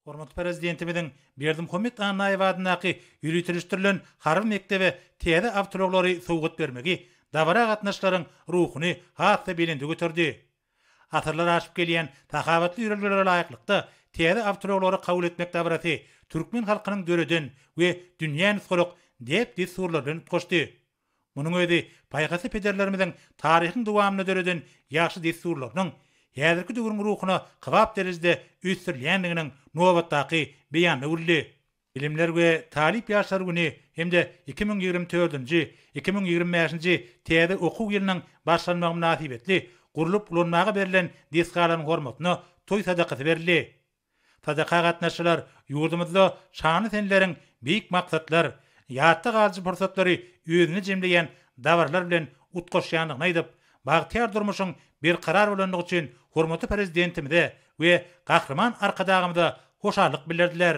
Hormatly Prezidentimiziň Berdimuhamet Annaýew adyndaky ýöriteleşdirilen harby mekdebe täze awtoulaglary sowgat bermegi dabara gatnaşyjylaryň ruhuny has-da belende göterdi. Asyrlar aşyp gelýän sahawatly ýörelgelere laýyklykda, täze awtoulaglary kabul etmek dabarasy türkmen halkynyň döreden we dünýä nusgalyk däp-dessurlary bilen utgaşdy. Munuň özi paýhasly pederlerimiziň taryhyň dowamynda döreden ýagşy dessurlarynyň häzirki döwrüň ruhuna kybap derejede ösdürilýändiginiň nobatdaky beýany boldy. Bilimler we talyp ýaşlar güni hem-de iki müň ýigrimi dördünji, iki müň ýigrimi bäşinji täze okuw ýylynyň başlanmagy mynasybetli gurlup ulanmaga berlen desgalaryň hormatyna toý sadakasy berildi. TDK-a gatnaşyjylar ýurdumyzda şanly seneleriň beýik maksatlar, ýatda galyjy pursatlary özünde jemleýän dabaralar bilen utgaşýandygyny aýdyp, bagtyýar durmuşyň berkarar bolandygy üçin hormatly Prezidentimize we Gahryman Arkadagymyza hoşallyk bildirdiler.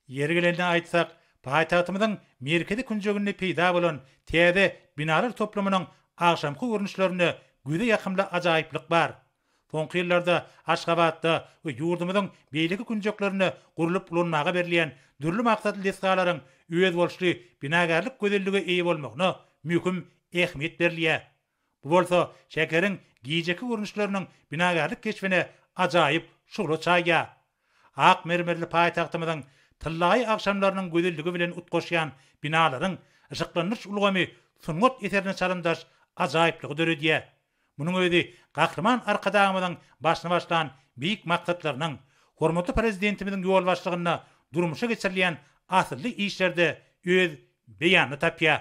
Ýeri gelende aýtsak, paýtagtymyzyň merkezi künjeginde peýda bolan täze binalar toplumynyň agşamky görnüşlerinde göze ýakymly ajaýyplyk bar. Soňky ýyllarda Aşgabatda we ýurdumyzyň beýleki künjeklerinde gurlup ulanmaga berilýän dürli maksatly desgalaryň özboluşly binagärlik gözelligi eýe bolmagyna möhüm ähmiýet berilýär. Bu bolsa şäheriň gijeki görnüşleriniň binagärlik keşbine ajaýyp şugla çaýýar. Ak mermerli paýtagtymyzyň tyllaýy agşamlarynyň gözelligi bilen utgaşýan binalaryň yşyklandyryş ulgamy sungat eserine çalymdaş ajaýyplygy döredýär. Munuň özi Gahryman Arkadagymyzyň başyny başlan beýik maksatlarynyň, hormatly Prezidentimiziň ýolbaşçylygynda durmuşa geçirilýän asylly işlerde öz beýanyny tapýar.